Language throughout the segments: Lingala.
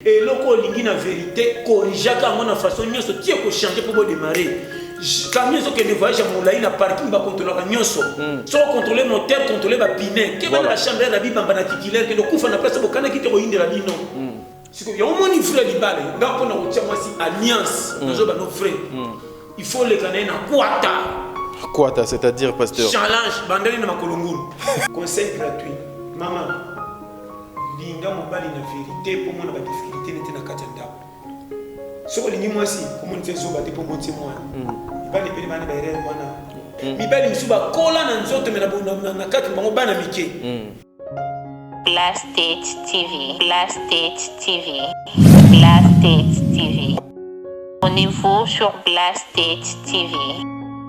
Eloko olingi na verite corrigea ka yango na façon nyonso tie ko changer pour bo démarrer. Camion ezo kende voyage ya molai na parking ba contrôlaka nyonso. Hmm. Soko contrôler moteur, contrôler ba pine. Keba na chambre na bibamba na titulaire kende kufa na place bokana kite ko yindela bino. Hmm. Siko ya omoni vrai libale nga pona kotia mwasi alliance hmm. nazoba no vrai. Il faut leka na ye na kwata. Kwata c'est-à-dire pasteur. Challenge bandali na makolongulu. Conseil gratuit. Maman Linga mobali na verite mpo omona badifficulté nete na kati ya ndako. Soki olingi mwasi omonisa ye zoba te mpo oboti ye mwana. Mibali ebele bana baerere wana. Mibali mosusu bakola na nzoto me na kati bango bana mike. Blast State TV. Blast State TV. Blast State TV. Abonnez-vous sur Blast TV.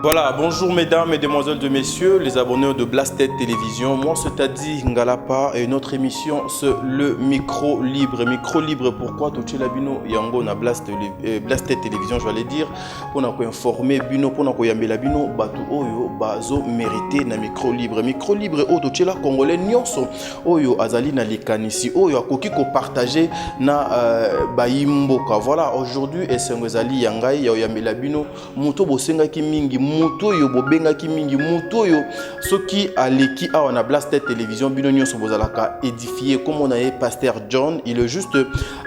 Voilà, bonjour mesdames, et demoiselles, de messieurs, les abonnés de Blasted Télévision. Moi, c'est Tadi Ngalapa et notre émission, c'est le micro libre. Micro libre, pourquoi tout le bino yango na Blast, euh, Blasted Télévision, je vais dire, pour nous informer bino, pour nous yambela bino, batou oyo, bazo mérité na micro libre. Micro libre, oh, tout le congolais, nyonso, oyo azali na likanisi oyo akoki kopartage na uh, bayi mboka voilà aujourd'hui esengo ezali ya ngai ya oyambela bino moto oyo bosengaki mingi moto oyo bobengaki mingi moto oyo soki aleki awa na blaster télévision bino nyonso bozalaka édifie komona ye pasteur john il est juste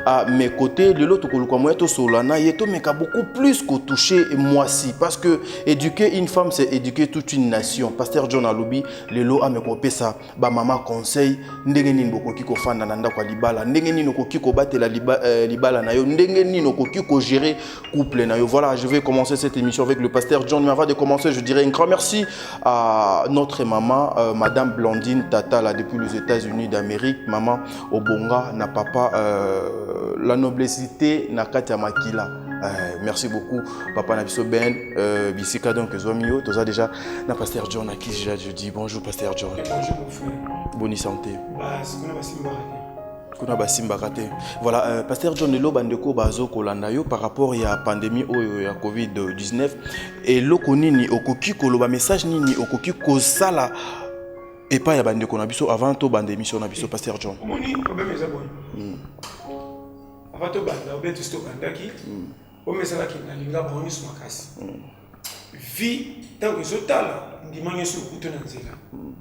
à mes côtés lelo tokoluka moya tosolola na ye tomeka beaucoup plus kotouche mwasi parce que éduquer une femme c'est éduquer toute une nation pasteur john alobi lelo ameka opesa bamama conseil ndenge nini bokoki kofanda na ndako ya libala ndenge nini okoki kobatela liba, euh, libala na yo ndenge nini okoki kogere couple na yo voilà je vais commencer cette émission avec le pasteur john mais avant de commencer je dirais un grand merci à notre maman euh, madame blandine tatala depuis les états unis d'amérique maman obonga na papa euh, la noblesité na kati ya makila Euh, merci beaucoup papa na biso ben euh, bisika donc ezwami yo toza déjà na pasteur john aki déjà je dis bonjour pasteur john eh, bonjour mon frère boni santé bah, kuna basimbaka te voilà euh, pasteur john lelo bandeko bazo kolanda yo par rapport ya pandémie oyo ya covid-19 eloko nini okoki koloba message nini okoki kosala epai ya bandeko na biso avant tobanda émission na biso eh, pasteur john omoni problème eza boye hmm. Avant to banda, bien tous to bandaki. Mm. Omesala ki na linga bango nyonso makasi. Mm. Vie ntango ezotala ndima nyonso okutu na nzela. Mm.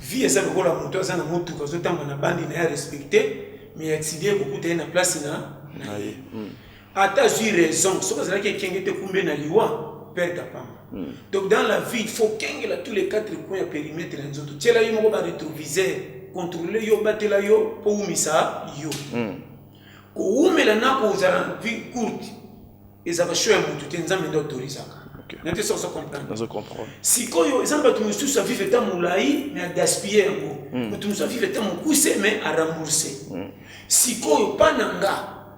Vie eza lokola moto aza na motuka azotamba na bandi na ye arespecte mais accident ekokuta ye na place na na ye. Mm. Ata azwi raison soki azalaki ekenge te kumbe na liwa perte apamba. Mm. Donc dans la vie il faut kengela tous les quatre coins ya périmètre na nzoto. Tiela ye moko ba rétroviseur contrôler yo batela yo mpo oumisa yo. Mm. kowumela na kozala na vie courte ezalaka show ya motu te nzambe nde autorisaka nate soki ozokomprendre sikoyo eza na bato mosusu avive ta molai me agaspille yango hmm. moto mosusu avive ta mokuse me arambourse hmm. sikoyo mpa na nga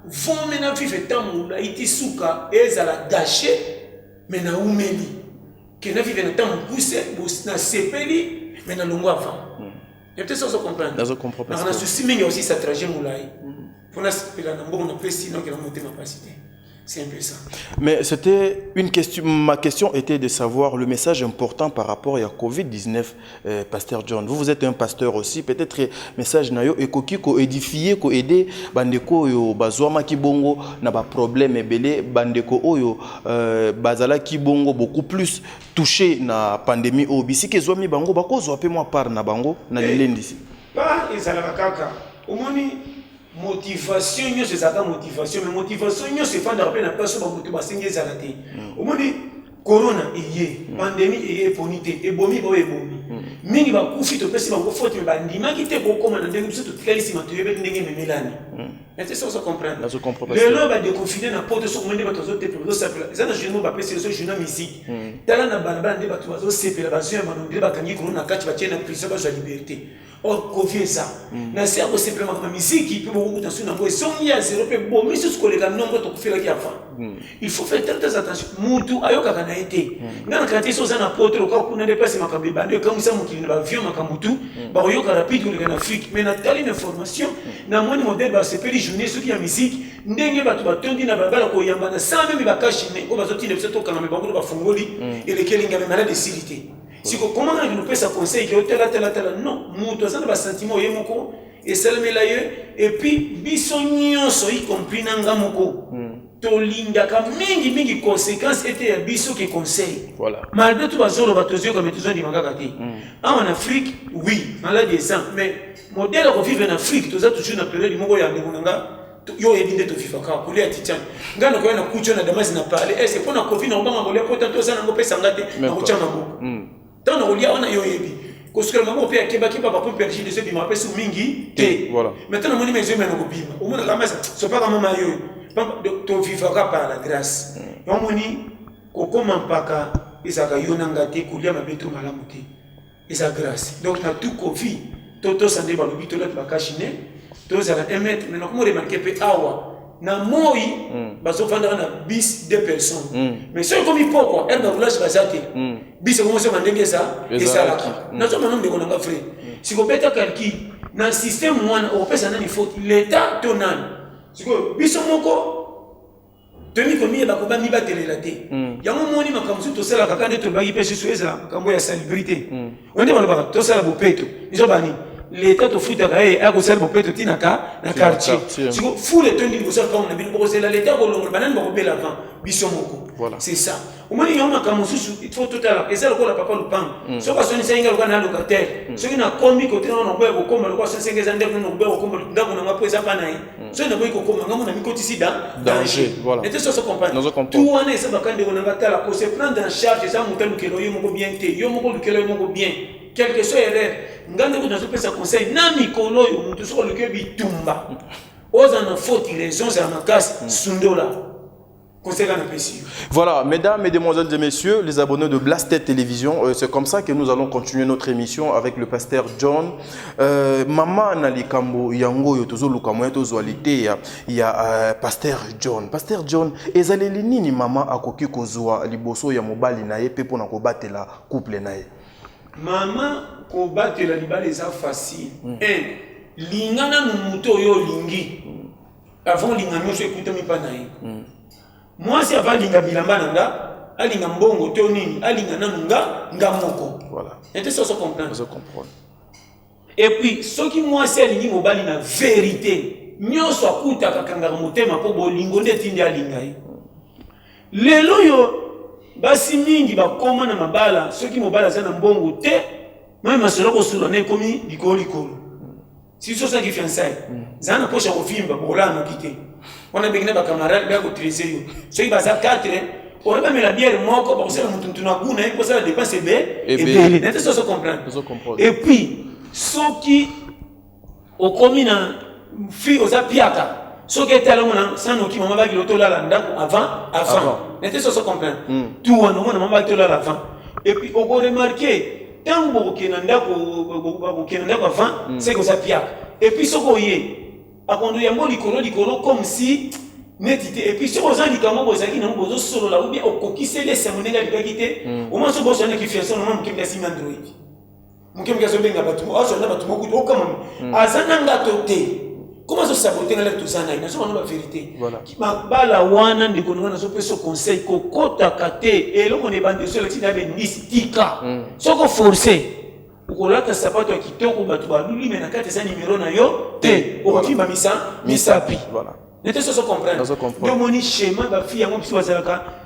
vome na vive ta molai ti suka ezala gashe me naumeli ke na vive na ta mokuse nasepeli me nalongo avant Natesa ozo comprendre. Nazo comprendre. Na susi mingi aussi sa trajet mulai. Pona sepela na mbongo na pesi na kela motema pasi te. C'est un peu ça. Mais c'était une question. Ma question était de savoir le message important par rapport à Covid-19, euh, Pasteur John. Vous, vous êtes un pasteur aussi. Peut-être euh, message nayo et koki ko édifier, ko aider bandeko yo bazwama kibongo na ba problème ebele bandeko oyo euh, bazala kibongo beaucoup plus touche na pandemie oyo bisika ezwami bango bakozwa mpe mwa part na bango na eh, lilendisi part ezalaka kaka omoni motivation nyonso ezalaka motivation mais motivation nyonso efandaka mpe na place oyo bamoto basengi ezala te hmm. omoni corona eye hmm. pandemie eye eponi te ebomi baoyo ebomi hmm. mingi bakufi topesi bango faute me bandimaki te kokoma na ndenge biso totikali nsima toyebi ndenge ememelani ete soki ozo comprendre lelo badekofine na poto soki omoni bato bazotepela bazosepela eza na journal bapesi ezo journal musique hmm. tala na balabala nde bato bazosepela bazwi ya mano nde bakangi kono na kati batie na prison bazwa liberté or oh, kovi eza hmm. na se ya kosepela makambo ya miziki mpe bokokuta nsu nango ezongi ya zero mpe bomi susu koleka nongo tokofelaki avant hmm. il faut faire très très attention mutu ayokaka na ye te hmm. nga na kanisa esi oza na poto lokola kuna nde place makambo ebanda ekamwisa mokili na baavion makambo tu hmm. bakoyoka rapide koleka na afrique mais natali na information hmm. na moni modele basepeli journée soki ya musique ndenge bato batondi na balabala koyamba na sans meme bakashi ne oyo bazotinda biso tokangame bango to bafungoli eleki elingi ya malade esili te siko koma naki nopesa conseil ke otala tala tala non moto aza na basentiment oye moko esalemela ye epuis biso nyonso y compris na nga moko tolingaka mingi mingi conséquence ete ya biso ki conseil voilà. malgré tout bazoloba tozoyoka me tozondima kaka te mm. awa na afrique oui maladi eza mais modele akovivre na afrique toza toujours na periode moko ya ndeko na nga yo oyebi nde tovivaka kolia titian ngai nakoya na kucho na damasi na parle ese mpo na covid na kobanga kolia mpo tanto oza nango opesa nga te nakotia maboko mm. ntango nakolia wana yo oyebi kosukela maboko mpe akebakeba bapompe ya jide ezobima mpe su mingi te mais ntango namoni maizoi mena kobima omonaka masa sopaka mama yo tovivaka par la grâce hmm. omoni kokoma mpaka ezalaka yo na nga te kolia mabe to malamu te eza grâce donc na tout kofi to tosa nde balobi tolaki bakashi ne tozala un mètre mais nakomi remarke mpe awa na moi mm. bazofandaka na bis de personnes mm. mais soki ekomi pokwa ere na roulage baza te mm. bis ekomosema ndenge eza esalaka mm. nazomona ndeko nanga vrai mm. sikobeta kalki na système wana okopesa nani faute leta to nani sikoyo biso moko toyebi komiyeba koba mibatelela te mm. yango omoni makambo mosusu tosalaka kaka nde tolobaki mpe susu ezala makambo ya salibrite mm. onde balobaka tosala bopeto izo bani leta tofutaka ye aya kosala bopeto ntina ka na quartier siko fule tondi liboso ya ntango na bino bokozela leta akolongola banani bakobela avant biso moko c'est ça omoni yango makambo mosusu ifo totala eza lokola papa lupango mm. soki asonisa inga lokola na locataire mm. soki nakomi kote nao naboya kokoma lokola asonisa inga eza ndeko nao naboya kokoma ndako na nga mpo eza pa na ye mm. soki naboyi kokoma ngambo na mikotisi da danger ete soso comprendre tu wana eza baka ndeko na nga tala ko se prendre en charge eza moto alukela yo moko bien te yo moko olukela yo moko bien quelque soit erreur nga ndeko nazopesa conseil na mikolo oyo moto soki oluki bitumba ozala na faute raison ozala makasi sundola Voilà, mesdames, et demoiselles et messieurs, les abonnés de Blasted Télévision, euh, c'est comme ça que nous allons continuer notre émission avec le pasteur John. Euh, maman Nalikambo Yango Yotozo Lukamoyeto Zoalité, il y a euh, pasteur John. Pasteur John, ezaleli nini maman akoki kozwa liboso ya mobali na ye pe pona kobatela couple na ye? Maman kobatela libala eza facile. Mm. Eh, linga nanu moto oyo olingi. avant olinga nyonso ekutami mpa na ye hmm. mwasi ava alinga bilamba na nga alinga mbongo to nini alinga nanu nga nga moko ete soso comprendre epuis soki mwasi alingi mobali na verité nyonso akutaka kangaka motema mpo bolingo nde etindi alinga ye lelo oyo basi mingi bakoma na mabala soki mobali aza na mbongo te mai masolo kosula na ekomi likolo likolo si soki ozalaki fiançai zala na mposa ya kovimba bokolala noki te wana ebeki na bacamarade baya kotrese yo soki baza 4 oyo bamela biere moko bakosala motu motu na guna ye kosala dépense ebe ebele nete so ozo comprendre et puis soki okomi na fille oza piaka soki etalamo na sanoki mama baki lotolala ndako avant avant nete so ozo comprendre tu wana omona mama baki tolala avant et puis okoremarke ntango bokokende na ndako bokokende na ndako avant hmm. seke oza piaka epuis soki oye akondo yango likolo likolo comme si neti te epuis soki oza likambo oyo ozalaki nango bozosolola obie okokiseli esengo ndenge alingaki te hmm. omwa soki bozwanaki fiason omwa moke mbiasi mandroid moke moke azobenga bato azwa na bato mokutu okamami hmm. aza na ngato te koma azosabote ngai toza na ye nazoba na baverité mabala wana ndeko ndeko nazopesa conseil kokotaka te eloko na ebandi esolati na bendisi tika hmm. soko force okolata sapato ya kitoko bato baluli me na kati eza nimero na yo te okokima misa misapi nete soso comprendre omoni schéma bafi yango biso bazalaka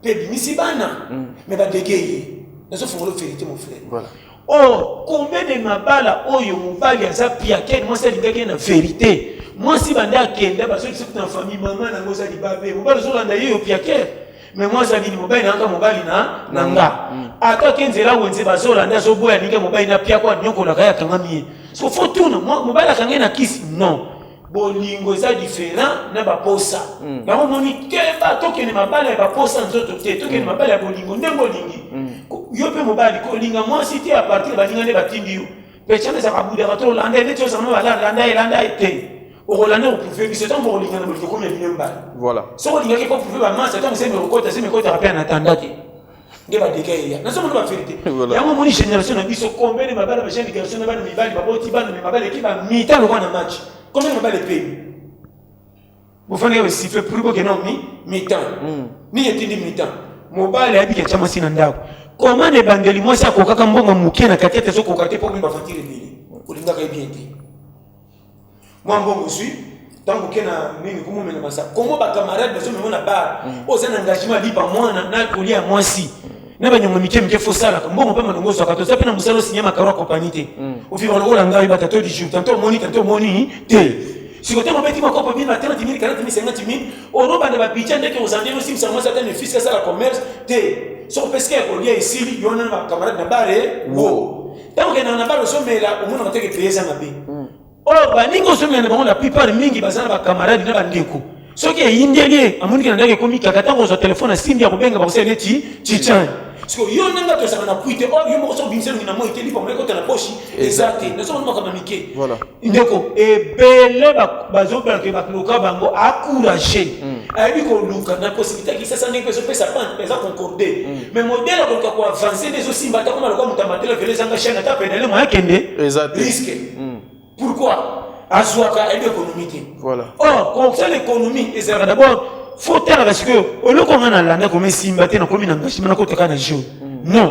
mpe ebimisi bana mm. me badege ye nazofongola verité mon frère voilà. or combien de mabala oyo mobali aza piakene mwasi alingaki ye na verité mwasi banda akenda bazokisa kuta na famille mama nango oza libabe mobali ozolanda ye yo piakere me mwasi abini mobali nanga mobali na na nga mm. ata ke nzela wenze bazolanda azoboya ninge mobali na piako anyokolaka ye akangami ye so fo tuna mobali akangai na kisi non bolingo eza différent na baposa mm. yango omoni keba tokende mabala ya baposa nzoto te tokende mm. mabala ya bolingo ndenge olingi mm. yo mpe mobali kolinga mwasi te apartir baninga nde batindi yo pechana ezaka budaka to olanda ye neti ozala no balanda ye landa ye te okolanda koprouve biso ntango bokolingana bolingo komi ya bino mbala soki olingaki koprouve bamasa ntango semi okota semi ekotaka mpe anatanda te nde badega eya nazomona baverité yango omoni génération na biso combien de mabala bajeune garçon na bana mibali baboti bana me mabala eki bamita lokwa na match combien de mabala epemi bofandi ya basiffle pour bokena mi mitan hmm. nini etindi mitan mobali ayebiki atya mwasi na ndako koma na ebandeli mwasi akokaka mbongo moke na kati ete ezokoka te mpo mimi bafatire ebele olingaka ye bien te mwa mbongo ozwi ntango oke na nini komomela masa komo bacamarade bazomema na bar mm. oza na engagement lipa mwana na kolia ya mwasi mm. na banyongo mike mike fosalaka mbongo mpe malongo ozwaka toza mpe na mosala osinya makaro ya kompani te mm. ofika lokola ngai batato du jour tanto omoni tanto omoni te siko ntango obeti makopo bino na 30 mille 40 mille 50 mille olobanda babidja ndeke ozala ndenge osimisa mwasi ata nefisi asala commerce te soki opesika ya kolia esili yo wana na bacamarade na bare wo Tango okendaka na bala ozomela omonaka te ke pays eza mabe oyo oh, baninga ozomela na bango la plupart mingi baza na bakamarade na bandeko soki eyindeli ye amoniki na ndako ekomi kaka ntango ozwa telefone asimbi ya kobenga bakosala neti cicani siko yo nanga tozalaka na pui te oyo oh, yo moko soki obimisa elongi na moi te lipa moyekota na poshi eza te nazomona makambo ya mike ndeko ebele bazobela ke bakoloka bango akourage hmm. ayebi koluka na possibilité ya kisasa ndenge mpe ezopesa pante eza concorde hmm. mais modele akoluka koavanse nde ezosimba ata koma lokola moto ya matele velo ezanga chaine ata penele moya kende riske hmm. pourquoi azwaka ayebi économie te or consel économie ezalaka d'abord fo talaka sikoyo oloko ngai nalanda koma esimba te nakomi na engagement nakotaka na jour non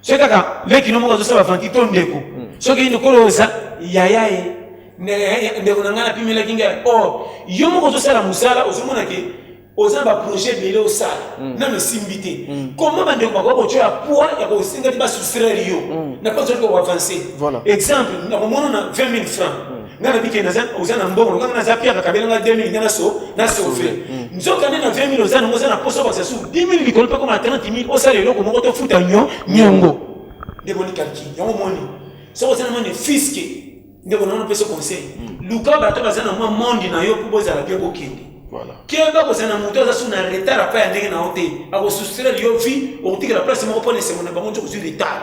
soki kaka leki no moko azosala vanti to ndeko hmm. soki yini kolo oza yaya ye ndeko na ngai napimelaki ngai or oh, yo moko ozosala mosala ozomona ke oza na baprojet ebele osala hmm. nano esimbi te hmm. koma bandeko bakoki kotyoya poids ya kosenga te basustraire yo na mpo azali koavanse exemple nakomona na 20 000 francs nga nabi ke naza oza na mbongo nga naza pia bakabela nga 2000 nga naso na sauve mm. nzoka nde na 20000 oza nango oza na poso bakisa su 10000 likolo mpe koma 30000 osala eloko moko tofuta nyo nyongo nde boni kalki yango moni soki oza na mone fiske nde kona ono pesa conseil mm. luka bato baza na mwa monde na yo mpo bozala bia bokende keba kozala na moto aza su na retard apa ya ndenge na yo te akosustrele yo vi okotikela place moko mpo na esengo na bango nzokozwi retard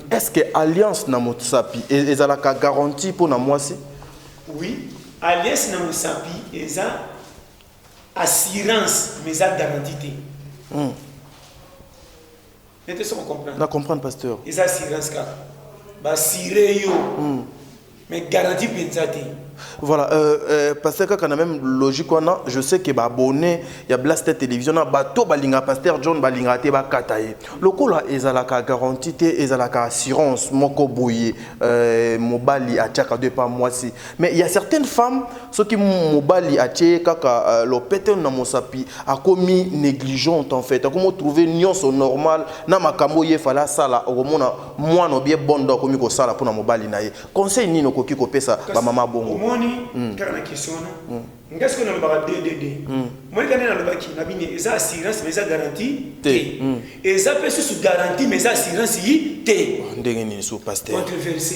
Est-ce que alliance na mosapi e, ezalaka garantie mpo na mwasi? Oui, alliance na mosapi eza assurance mais eza garantie te. Hmm. Nete soko comprendre. Na comprendre pasteur. Eza assurance kaka. Ba sire yo. Hmm. mais garantie penza te Voilà, euh, euh, pasteur kaka na même logique wana, je sais que ba abonné ya Blaster Télévision na bato balinga pasteur John balinga te ba kataye. Lokola ezalaka garantie te, ezalaka assurance moko boye euh, mobali atiaka deux pas mwasi. Mais il y a certaines femmes soki mobali atie kaka euh, lopete na mosapi akomi négligente en fait, akomo trouver nionso normal na makambo ye fala sala okomona mwana obie bondo akomi kosala mpona mobali na ye conseil nini okoki kopesa bamama bongo omoni mm. kaka na question wana mm. nga soki nalobaka ddd mm. monika nde nalobaki na bini eza assurance mais eza garantie te eza mpe susu garantie mais eza assurance yi te oh, ndenge nini su paster controverse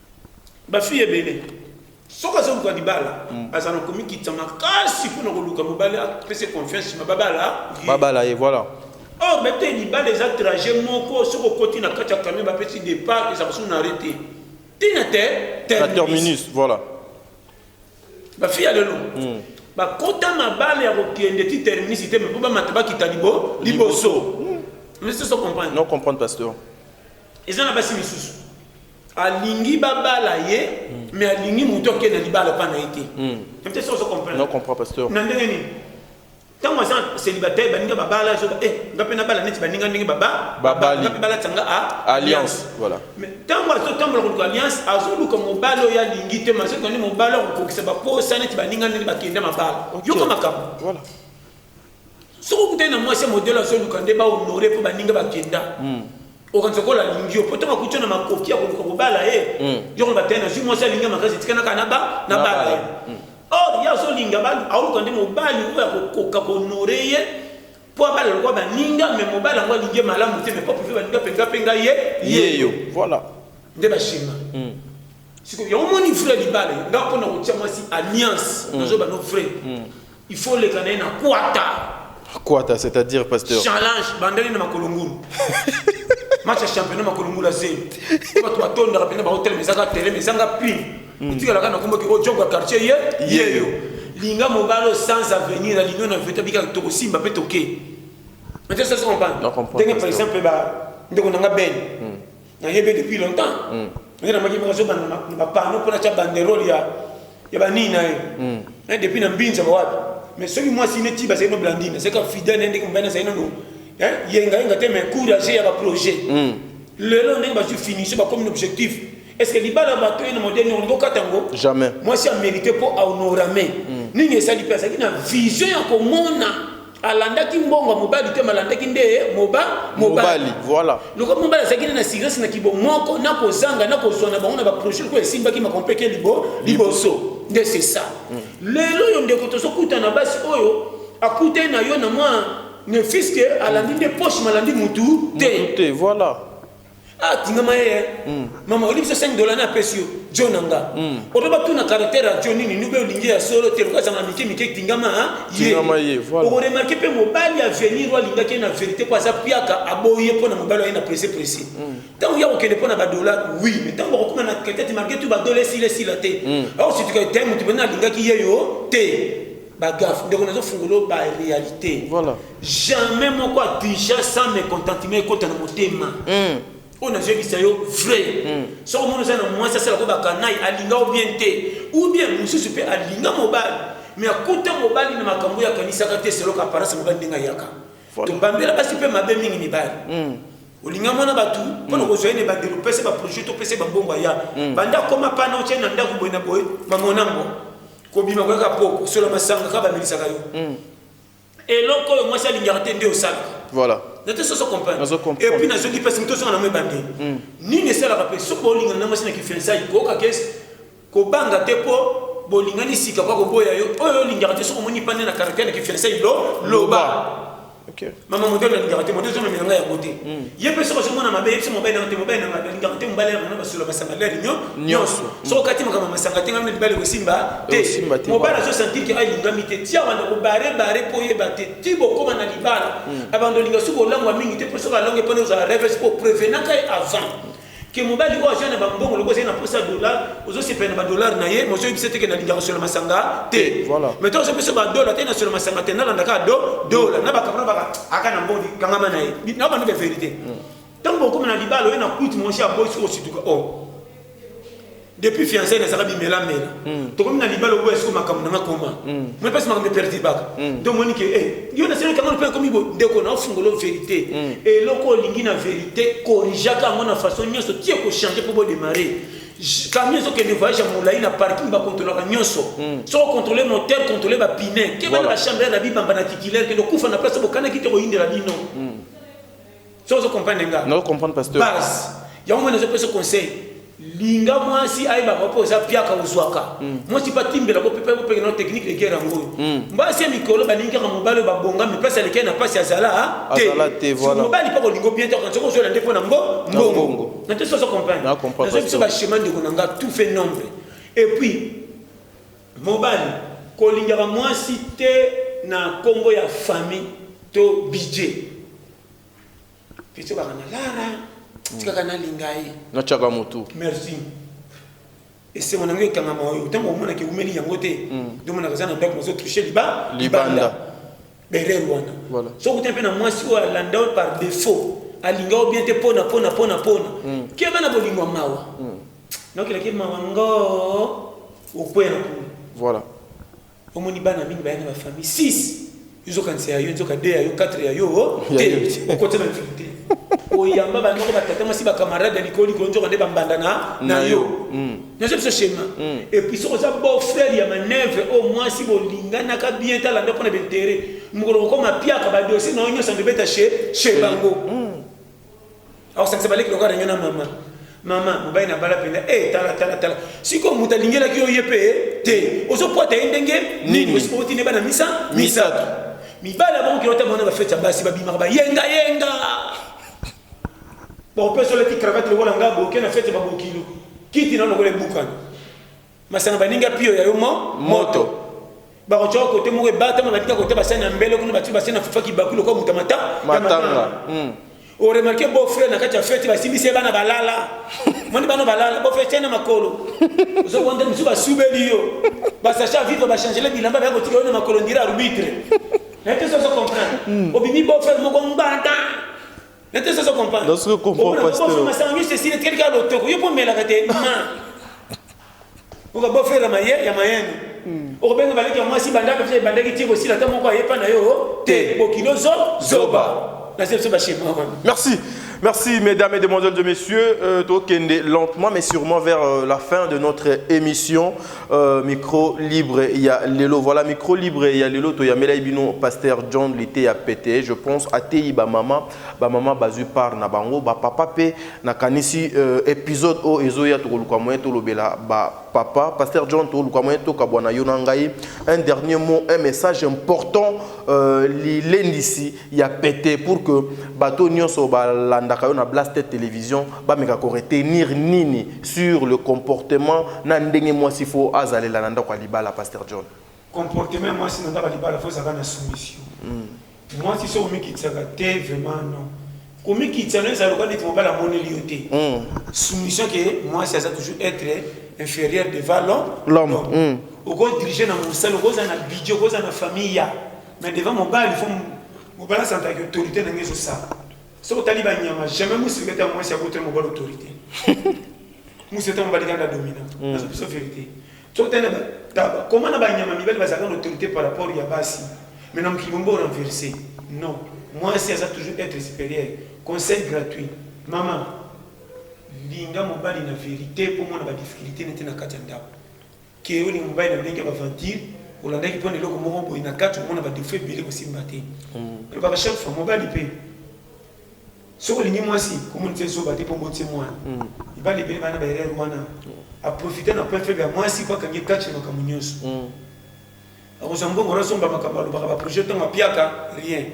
ba fille ebele soki azoluka libala mm. azala na komikitisa makasi mpo na koluka mobali apese confiance ma babala babala ye voilà or oh, bete libala eza trajet moko soki okoti na kati ya camion bapesi départ eza kosuku na arrete tina te terminus voilà bafi ya lelo mm. bakota mabala ya kokende ti terminus te me mpo bamata bakita liboso mais ce sont comprendre non comprendre pasteur eza na basi misusu alingi babala ye mm. mais alingi moto ake na libala epa na ye te emte soki ozocomprendre na ndenge nini ntango aza célibataire baninga babala azoba e eh, nga mpe nabala neti baninga ndenge babalinga mpe balatisa nga alliance ntango azotambola koluka alliance azoluka mobali oyo alingi te mazokani mobali akokokisa baposa neti baninga ndenge bakenda mabala yoka makambo soki okutani na mwasi ya modele azoluka nde bahonore mpo baninga bakenda hmm. okanisa kola alingi yo mpo ntango akuti na makoki ya koluka kobala ye hmm. yo koloba te nazwi mwasi alingi makasi etikanaka na bala ye hmm. or ye azolinga aoluka nde mobali oyo akokoka kohonore ye mpo abala lokwa baninga me mobali yango alingi ye malamu te me mpo aprofi baninga mpenza mpenga ye yeyo voilà nde bashima sikoyo yango omoni vrai libala nga mpo na kotia mwasi alliance nazoba no vrai Il faut oleka na ye na kwata. Kwata c'est-à-dire pasteur. Challenge bandeli na makolo ngulu. Match ya championnat makolo ngulu azeli. Ko bato batondaka pena ba hotel mezanga tele mezanga pin. Hmm. Otikala kana kombo ki o oh, jogo quartier ye ye yo. Linga mobalo sans avenir na linga na veta bika to kosimba pe toke. Mais ça se comprend. Donc par exemple ba ndeko nanga ben. Hmm. Nayebe depuis longtemps. Mm. Ngai namaki moko azoba na bapano mpo natya banderole ya ya banini na ye. Mm. Eh, depuis na mbinza bawapi. Mais soki mwasi neti bazali no Blandine, c'est comme fidèle na ndenge mobali azali nano hein, yenga yenga te mais courage ya ba projet. Mm. Lelo ndenge bazwi finition bakomi na objectif. Est-ce que libala bato ye na modèle nini olingi okata yango? Jamais. Mwasi a mérité mpo aonorame. Mm. Nini esali mpe azalaki na vision ya komona alandaki mbongo ya mobali te malandaki nde moba mobali voilà lokola mobali azalaki nde na sigresi na kibomoko na kozanga na kozwa na bango na baprojet oyo esimbaki makompeke libo liboso nde c'est ça mm. lelo oyo ndeko tozokuta na basi oyo akutani na yo na mwa ne fiske alandi nde poche malandi mutu te voilà Ah, tingama ye eh. hmm. mama olingi biso 5 dola na apesi yo jo na nga hmm. oto batuna karaktere ya jo nini nube olingi ya solo te lokazanga mike mike tingama ah, ye okoremarke mpe mobali ya venir oyo alingaki ye na verité mpo aza piaka aboyi ye mpo na mobali aye na presse presse ntango hmm. ya kokende mpo na badola wi me ntango bakokoma na ketete marke tu badola esila esila te aosituka te moto mpena alingaki ye yo te Ba gaffe ndeko nazo fungola yo ba realite. Voilà. Jamais moko a déjà sans mécontentement ekota na motema. Mm. oyo nazoyebisa yo vrai mm. soki omoni oza na mwasi asala ko bakanai alinga o bien te ou bien mosusu mpe alinga mobali me akuta mobali na makambo oyo akanisaka te seloka aparence mobali ndenge ayaka tobambela basi mpe mabe mingi mibali mm. olinga mwana bato mpona mm. kozwa ye na ebandeli opesa baprojet to opesa bambongo aya mm. banda akoma pana otye na ndako boye na boye mamonango kobima koyaka po kosola masanga kaka bamelisaka yo hmm. eloko oyo mwasi alingaka te nde osalaka voilà nate soso comprendre et puis nazoki pasi moto ozonga nango ebande hmm. nini esalaka mpe soki bolingana na mwasi na kifiansai kooka ke kobanga te mpo bolingani sika kwa koboya yo oyo olingaka te soki omoni mpande na karaktere na kifiansai lo loba Okay. Mama modèle na lingaka te modèle zona milanga ya côté. Hmm. Ye pe soko zomona mabe yebisa mobali na te mobali na nga lingaka te mobali na nga basolo basanga la linyo nyonso. Soko kati makama masanga te ngamne libali kosimba te. Mobali azo sentir que alingami te. Tia wanda ko bare bare po yeba te. Ti bokoma na libala. Hmm. Abando linga suko langwa mingi te po soko alonge pona ozala rêve po prevenaka ye avant. que mobali oyo aza na bambongo lokola ezali na posa dolar ozosepela na badolar na ye mozo yebisa teke nalinga kosola masanga te mai to ozopesa badola te nasola masanga te nalanda kaka do dola na bakabana baka aka na mbodi kangama na ye na bando ba verité ntango okoma na libala oye na kuiti monshi ya bosi osituka o oh. depuis fiancé nazaka bimela mela mm. tokomi na libala oboya siko makambo nanga koma mm. moi mpasi makambo eperturbaka mm. donc omoni ke e eh, yo naseli kango mpe ekomi bo ndeko na ofungolo verité mm. eloko olingi na verité corrigeaka yango na façon nyonso tie kochange mpo bodemare camion ezokende voyage ya molai na parking bakontrolaka nyonso hmm. soko kontrole moteur kontrole bapine kebana bachambre ya na bibamba na titulaire kende okufa na place bokanaki te koyindela bino hmm. so ozo comprendre nga nazo comprendre pasteur base yango mwana ezo pesa conseil linga mwasi ayebaka mpo oza piaka ozwaka mm. mwasi mpe atimbela ko mpe kopenge na technique de guerre yango oyo mm. mbasi ya mikolo balingi kaka mobali oyo babongami mpasi alekei na mpasi azala te mobali mpe kolingo bien te soki ozwela nde mpo na mbo mbongo na te soso comprendre nazo biso bachemin ndeko na nga tout fait nombre et puis Mobali, kolingaka muasi te na kombo ya famille to budget. Petit baka na lara, tikaka na linga ye. Na chaka mutu. Merci. Esengo na ngai ekangama oyo ntango omona ke umeli yango te ndomonaka eza na ndako nazo touche liba libanda berere wana soki te mpe na mwasi oyo alanda oyo par défaut alinga oyo bien te mpona mpona mpona mpona keba na bolingo mawa naokelaki mawa ngoo Okwea na kuna. Voilà. Omoni bana mingi baya na ba famille 6. Izokanisa ya yo nzoka 2 ya yo 4 ya yo te. Okote na difficulté. Oyamba ba ndoko ba tata masi ba camarade ya likolo likolo nzoka nde ba mbanda na na yo. Mm. Nazo biso schéma. Mm. Et puis soko za beau frère ya manœuvre au oh, moins si bolingana ka bien tala ndoko na bintérêt. Mukolo kokoma piaka ba dossier na onyo sande beta chez chez bango. Mm. akosangisa baleki lokola reunion na mama mama mobali na bala mpenza e tala tala tala sikoyo moto alingelaki yo ye mpe te ozopota ye ndenge nini osipoti ne bana misa misato mibali abokokila ota mwana bafeti ya basi babimaka bayengayenga bakopesolaki kravate lokola nga boke na feti babokilo kiti na lokola ebukana Masanga baninga pio ya yo mo moto. Bakotya kote moko ebatama batika kote basani ya mbele kuna bati basani na fufa kibaku lokola moto ya mata ya matanga. Hmm. Oremarke beau frère na kati ya fete basimbisi ye bana balala. Moni bana balala beau frère tiana makolo. Ozokonda misusu basubeli yo. Basacha vivre bachangele bilamba baya kotika yo na makolo ndira arbitre. Naye te soso comprendre. Hmm. Obimi beau frère moko mbanda. Nate sasa comprendre. Nase comprendre pasteur. Obo masanga nyose sile telika lotoko yo pomela kate ma. Oka bo fera maye ya mayendo. Hmm. Okobenga baleki ya mwasi bandaka fye bandaki tiko sila ta moko ayepa na yo te bokilo zo zoba. Nase biso ba shema wana. Merci. Merci mesdames et demoiselles et messieurs, euh, tokende lentement mais sûrement vers euh, la fin de notre émission. Euh, micro libre ya lelo voilà micro libre ya lelo toyamelaki bino pasteur john lite ya pete je pense ateyi bamama bamama bazwi part na bango bapapa mpe nakanisi euh, épisode oyo ezoya tokoluka moyen tolobela bapapa pasteur john tokoluka moyen tokabwana yo na ngai un dernier mot un message important euh, lilendisi ya pete pour que bato nyonso balandaka yo na blasted télévision bameka ko retenir nini sur le comportement na ndenge mwasi fo azalela na ndako ya libala pasteur john comportement ya mwasi na ndako ya libala fo ezalaka na soumission mm. mwasi so omikitisaka te vraiment non komikitisa no ezala lokola neti mobali amoneli yo te mm. soumission ke mwasi aza toujours être inférieur devant l'homme l'homme mm. okodirige na mosala okozala na budget okozala na famille ya mais devant mobali fo mobali asantaki autorité na ngai ezosala soki otali banyama jamais mosi ekata mwasi akotela mobali autorité mosi ete mobali kanda domina mm. nazo biso vérité soki otali koma na banyama mibali bazalaka na autorité par rapport ya basi mais na mokili bombo na verse non mwasi aza toujours être supérieur conseil gratuit mama linga mobali na verité mpo mona badifficulté nete na kati ya ndako Ke oyo ni mobali na ndenge ya ba aventure olandaki pona eloko moko boye na kati omona ba defaut ebele kosimba te elobaka chaque fois mobali pe soki olingi mwasi komonisa ye zoba te mpo oboti ye mwana mibali ebele bana ba erreur wana aprofite na point faible ya mwasi mpo akangi ye kati na makambo nyonso akozwa mbongo na somba makambo alobaka ba projet ntango apiaka rien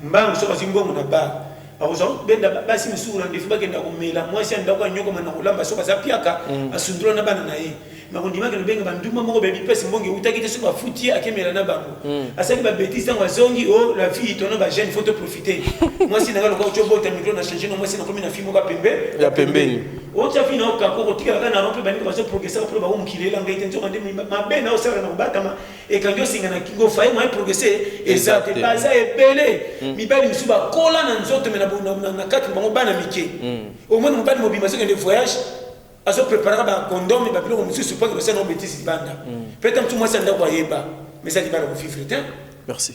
mbangu soki azwi mbongo na bar akozwa benda basi mosusu na ndefu bakenda komela mwasi ya ndako anyokoma na kolamba soki aza piaka asundola na bana na ye nakondimaki lobenga bandumba moko bebi pesi mbongo eutaki te soki bafuti ye akemela na bango asali babetise ntango azongi o la vie tona bajeune faut toprofite mwasi na ngai lokola otyo obota mikro na change na mwasi nakomi na fi moko ya pembe ya pembeni Otia vie na okako kotikala kaka na rond-point baninga bazo progresser après bango mokili elanga ete nzoka nde mabe na osalaka na kobatama ekangi osinga na kingo faye moyen progresser eza te baza ebele hmm. mibali mosusu bakola na nzoto me na kati bango bana mike hmm. omoni mobali mobima azokende voyage azo préparaka bacondome babiloko mosusu mpo akebasana obetisi libanda mpe ta mosusu mwasi ya ndako ayeba mais alibala kovivre te merci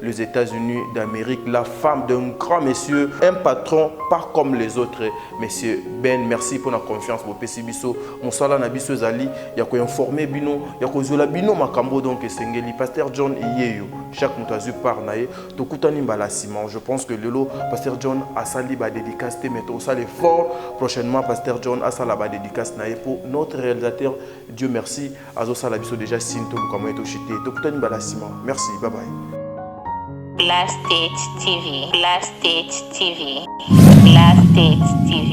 les États-Unis d'Amérique, la femme d'un grand monsieur, un patron pas comme les autres. Monsieur Ben, merci pour la confiance pour pesi biso. Mosala na biso ezali ya ko informer bino, ya ko zola bino makambo donc esengeli. Pasteur John Iyeyo, chaque moto azui par na ye, tokutani mbala sima. Je pense que lelo Pasteur John asali ba dédicace te mais to sala fort prochainement Pasteur John asala ba dédicace na ye pour notre réalisateur Dieu merci. azo sala biso deja signe to luka moyen to chute to kutani bala sima merci bye bye Blast State TV Blast State TV Blast State TV